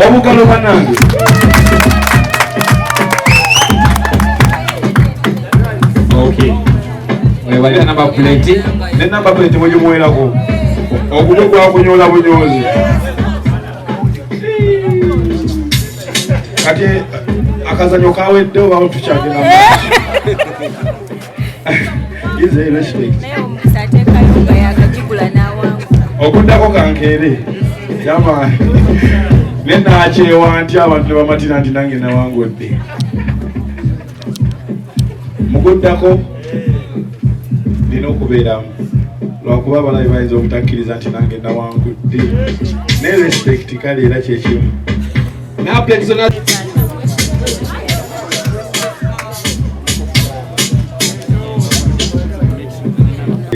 obugalo banange mwebale namba puleti ne namba puleti mugimuwerako ogumu gwakunyola bunyozi kati akazanyo kawedde oba tukyagenda okuddako kankeere yamaani ne nakyewa nti abantu ne bamatira nti nange nawangudde mukuddako nina okubeeramu lwakuba abalabi bayinza obutakkiriza nti nange nawangudde ne respect kale era kyekimu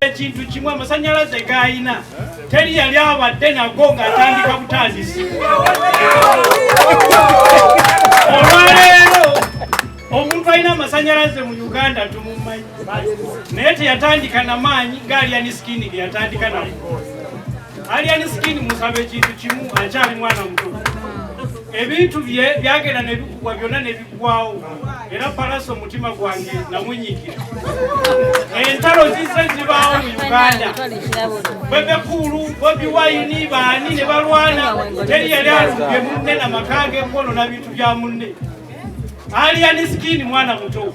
ekintu kimu amasanyalaze gayina teri yali abadde nago ng'atandika butandisi olwaleero omuntu alina amasanyalaze mu uganda tumumanyi naye teyatandika na maanyi gaaliyani sikini geyatandika nago Alien Skin musabe ekintu kimu akyali mwana muto ebintu bye byagenda nebikugwa byonna nebigwawo era palasa omutima gwange namunyikira entalo zizze zibaawo mu uganda bebekuulu bobi wayini baani ne balwana teri yali alumbye munne na maka ge kwono na bintu bya munne aliani sikini mwana muto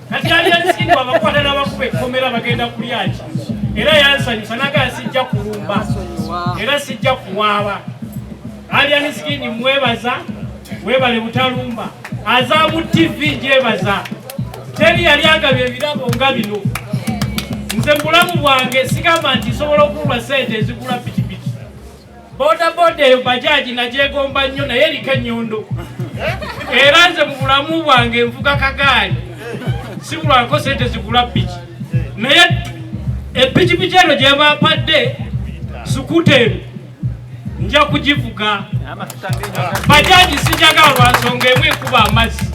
kati yalyansinga abakwata n'abakuba ekkomera bagenda kulyaki era yansanyusa naga sijja kulumba era sijja kuwaaba alyansigini mwebaza webale butalumba azamu tv gyebaza teri yali agabye ebirabo nga bino nze mubulamu bwange sigamba nti nsobola okulwa sente ezigula piki Boda boda eyo bajaji nagyegomba nnyo naye eriko ennyundu era nze mu bulamu bwange nvuga kagaali sibulwako sente zigula piki naye epikipiki eno gyebampadde sukuta eno nja kugivuga bajaji sijagala lwansonga emu ekuba amazzi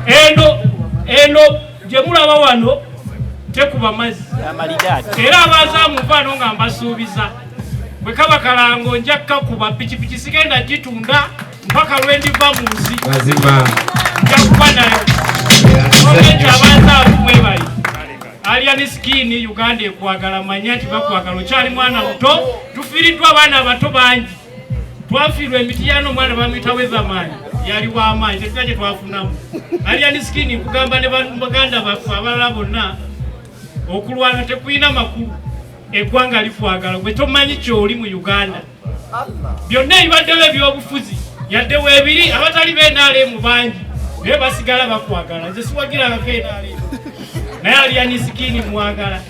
eno eno gye mulaba wano tekuba mazzi era abazaamuvaano nga mbasuubiza bwe kaba kalango nja kukakuba pikipiki sigenda gitunda mpaka lwe ndiva mu nsi njakuba nayo olwekyo abazaavu mwebali alian skin uganda ekwagala manya nti bakwagala okyali mwana muto tufiiriddwa abaana abato bangi twafiirwa emitiyano omwana bamuyita wethamaani yali wamaanyi tetuna kye twafunamu aliyani sikini nkugamba ne baganda baffe abalala bonna okulwana tekulina makulu eggwanga likwagala gwe tomanyi kyoli mu uganda byonna ebibaddewo ebyobufuzi yadde webiri abatali benalemu bangi naye basigala bakwagala nze siwagirangako enalemu naye aliyani sikini mwagala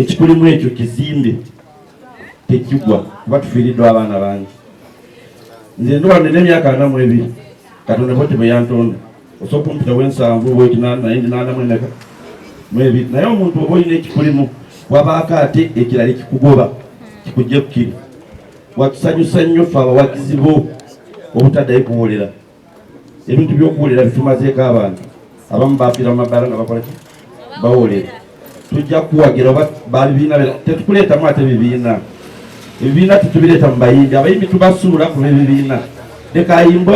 ekikulimu ekyo kizimbe tekigwa kuba tufiiriddwa abaana bangi nze ndi wano emyaka ana mu ebiri katonda bwete bwe yantonda osobola okumpitawo ensanvu bwekinanaye ndinaanamu emeka mu ebiri naye omuntu oba olina ekikulimu wabaako ate ekirala ekikugoba kikujja kukiri watusanyusa nnyo fe abawagizi bo obutaddayo kuwolera ebintu byokuwulira bitumazeeko abantu abamu bafiira mumabaala nga bakola ki bawulira tujja kuwagira oba babibiina tetukuleetamu ate bibiina ebibiina tetubireeta mu bayimbi abayimbi tubasuula kuba ebibiina leka ayimbe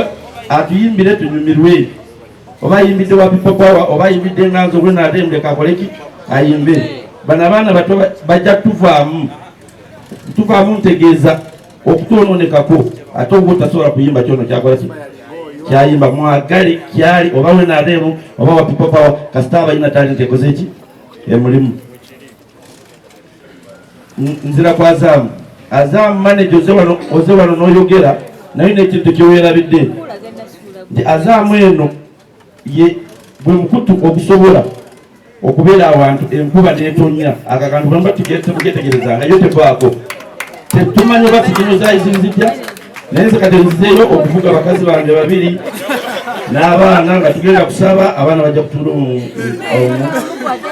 atuyimbire tunyumirwe oba ayimbidde wapipopawa oba ayimbidde nganzo gwena ate muleka akoleki ayimbe bano abaana bato bajja tuvaamu tuvaamu ntegeeza okutononekako ate oba otasobola kuyimba kyono kyakola ki kyayimba mwagale kyali oba wenabeemu oba wa people power kasita abalina talenti ekoze ki emulimu nzira ku azaamu azaamu manaje oze wano noyogera naye nekintu kyewerabidde nti azaamu eno ye gwe mukutu ogusobola okubeera awantu enkuba netonya ako akantu bamba tugetegereza nayo tevaako tetumanyi oba sikino zayizinzija naye nze kati nzizeeyo okuvuga bakazi bange babiri n'abaana nga tugenda kusaba abaana bajja kutula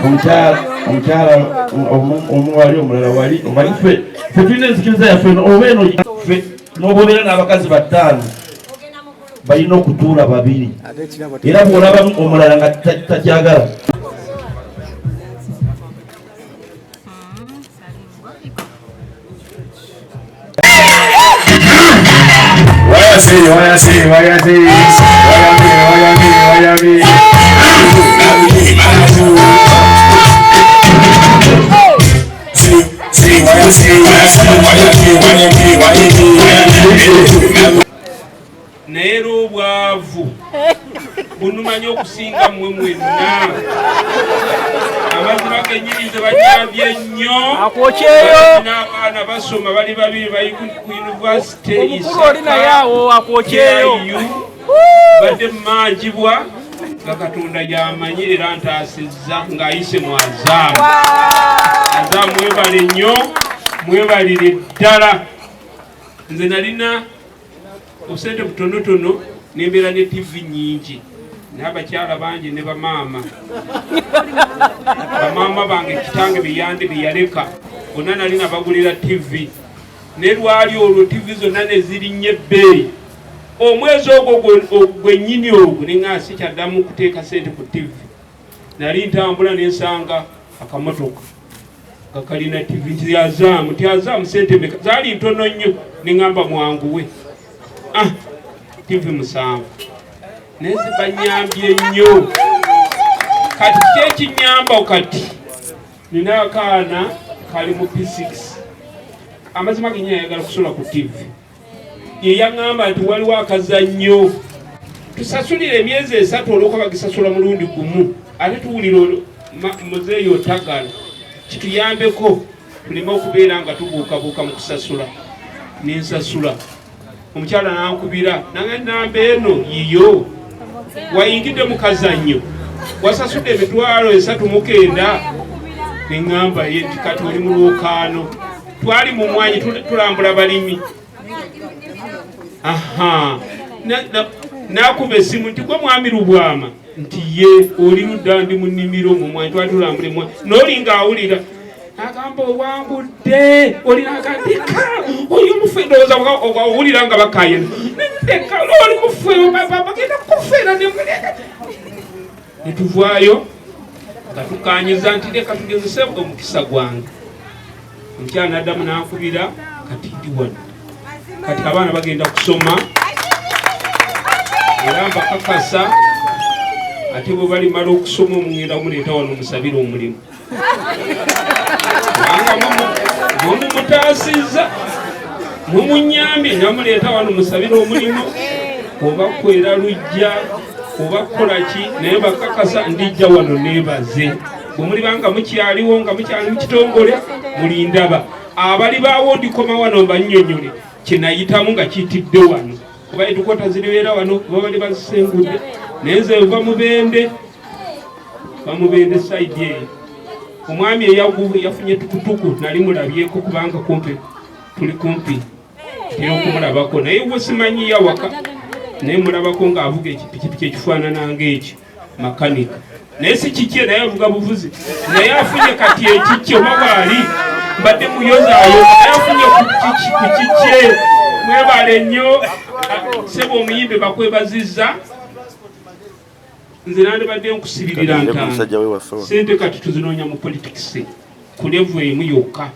omukyala omukyala omu wali omulala wali omali fe fe tulina enzikiriza yaffe oba eno fe n'obobeera n'abakazi battaano balina okutuula babiri era bwolabamu omulala nga takyagala Why you naye era obwavu bunumanya okusinga mmwe mwenna abaziba kenyini tebanyambye nnyo n'abaana basoma bali babiri bali ku yunivasite isakayu badde mumanjibwa nga katonda yamanyi era ntaasizza ng'ayise mu azaamu azaamu mwebale nnyo mwebalire ddala nze nalina obusente butonotono nembeera ne tivi nyingi n'abakyala bangi ne bamaama bamaama bange kitange beyandi beyaleka bonna nali nabagulira tivi ne lwali olwo tivi zonna nezirinnye ebbeeyi omwezi ogwo gwennyini ogwo nenga sikyaddamu kuteeka sente ku tivi nali ntambula nensanga akamotoka nga kalina tivi nti azaamu ti azaamu sente meka zaali ntono nnyo neŋamba mwanguwe ah tivi musanvu naye zibanyambye nnyo kati kyekinyamba kati nina akaana kali mu p6 amazima genyini ayagala kusula ku tivi ye yaŋŋamba nti waliwo akazannyo tusasulira emyezi esatu olwokuba bagisasula mulundi gumu ate tuwulira muzeeyi otagala kituyambeko tuleme okubeera nga tubuukabuuka mu kusasula nensasula omukyala nankubira nange namba eno yiyo wayingidde mu kazannyo wasasudde emitwalo esatu mukenda neŋŋamba ye nti kati oli mu lwokaano twali mu mwanyi tulambula balimi aha nakuba esimu nti gwe mwami lubwama nti ye oli ludda ndi mu nnimiro mu mwanyi twali tulambula emwanyi nolinga awulira agamba owangudde olinakadika oli omufu endowooza owulira nga bakayena oli mufu bagenda kufera nemuleka ne tuvaayo nga tukanyiza nti leka tugezese omukisa gwange omukyala naddamu nankubira kati ndi wano kati abaana bagenda kusoma era mbakakasa ate bwe balimala okusoma omungenda omuleeta wano omusabire omulimu mumutaasizza mumunyambye namuleeta wano musabira omulimu oba kwera lujja oba kukola ki naye bakakasa ndijja wano nebaze bwemulibanga mukyaliwo nga mukyali mukitongole mulindaba abali bawo ndikoma wano mbanyonyole kyenayitamu nga kitidde wano kuba etukota ziribeera wano kuba bali bazisengudde naye nze nva mubende bamubende saidi eyo omwami eyagubu yafunye tukutuku nali mulabyeko kubanga kumpi tuli kumpi era okumulabako naye we simanyi yawaka naye mulabako ng'avuga ekipikipiki ekifaanana ng'ekyo makanika naye si kikye naye avuga buvuzi naye afunye kati ekikye oba waali mbadde muyozayo naye afunye ku kikye mwebale nnyo sebo omuyimbi bakwebaziza nze nandibadde nkusibirira ntaano sente kati tuzinoonya mu politics ku levu emu yokka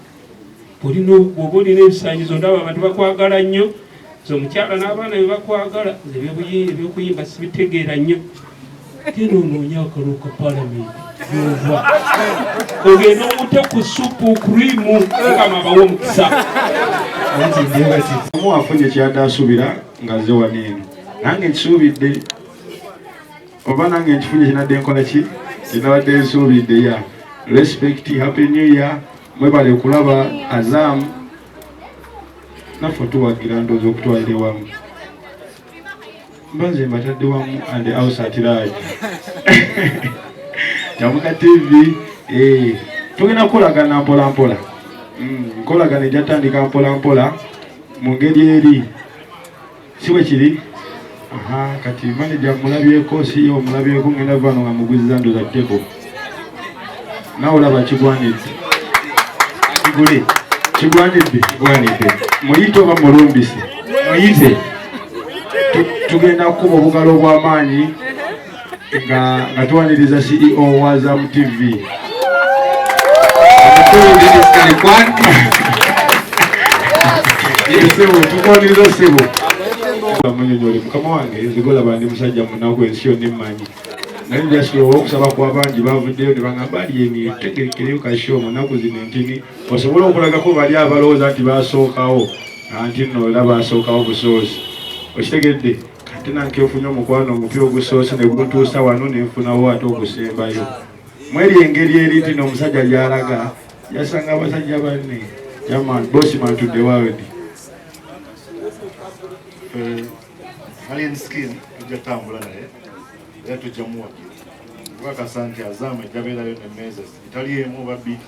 bwoba olina ebisanyizo ndaba abantu bakwagala nnyo nze omukyala n'abaana be bakwagala nze ebyokuyimba sibitegeera nnyo genda onoonya akalulu ka palamenti yova ogenda omute ku supu krimu mukama abawa omukisa omu afunye kyadaasubira nga ze waneeno nange nkisuubidde oba nange nkifunye kinadde nkola ki kinabadde nsuubidde ya respect happy new year mwebale kulaba azam naffe tuwagira ndoozi okutwalire wamu mbanze mbatadde wamu and ausatiraji kyamuka tv eh, tugenda kukolagana mpolampola mm, nkolagana ejatandika mpolampola mu ngeri eri si bwe kiri kati maneja mulabyeko si omulabyeko ngenda vano nga muguziza ndoza tebo nawe olaba kigwanidde kigule kigwanidde kigwanidde muyite oba mulumbise muyite tugenda kukuba obugalo obw'amaanyi nga nga tuwaniriza CEO wa Zam TV omukulu Dennis Kalikwan sebo tukuwaniriza sebo munyonyoli mukama wange nzigola bandi musajja munaku ensi yonna emmanyi naye njasula olwokusaba kwa bangi bavuddeyo ne bagamba aliyeni tegekereyo kasho munaku zino entini osobola okulagako bali abalowooza nti basookawo anti nno era basookawo busoozi okitegedde ate nange nfunye omukwano omupya ogusoose ne guntuusa wano ne nfunawo ate ogusembayo mweri engeri eri nti n'omusajja gyalaga yasanga abasajja banne yaman bosman to the world eh, alien skin tujja tambula naye era tujja muwagira kubakasa nti azaama ejjabeerayo ne measures etali emu babbi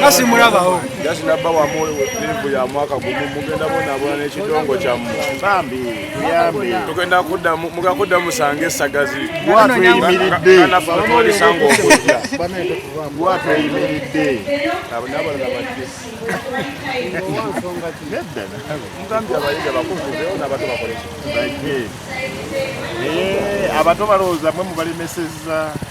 kasi mulabawo jasi nabba wamulivu ya mwaka gumu mugenda bonabona nekidongo kyamu bambi yambi tugenda kudda mugenda kudda musanga esagazi gwatweyimiridde natwalisanga okujja gwatweyimiridde nabalala bajje nedda mugambye abayiga bakuvuzewo nabato bakoleki bajje abato balowooza mwe mubalemeseza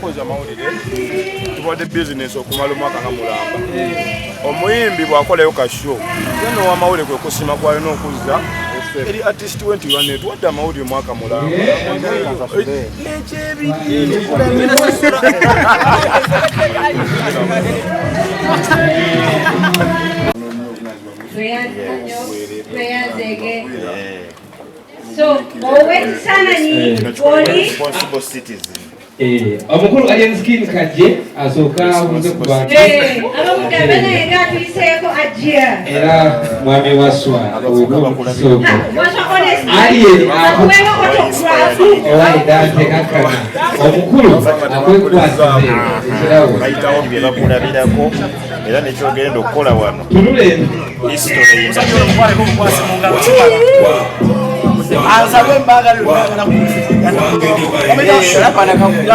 Koza amawulire tubadde bizinesi okumala omwaka nga mulamba omuyimbi bw'akolayo ka show yena owamawulire kwe kusima kwalina okuzza eri artist we nti bane tuwadde amawulire omwaka mulamba tweyazeege So, ow'ekifaananyi oli omukulu alienskin kajje asooka abuuze ku bantu era mwami waswa obusooko alien owa edante kakkana omukulu akwekwasize ekirawo era nekyogenda okukola wano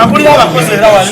akulira abakozi era wali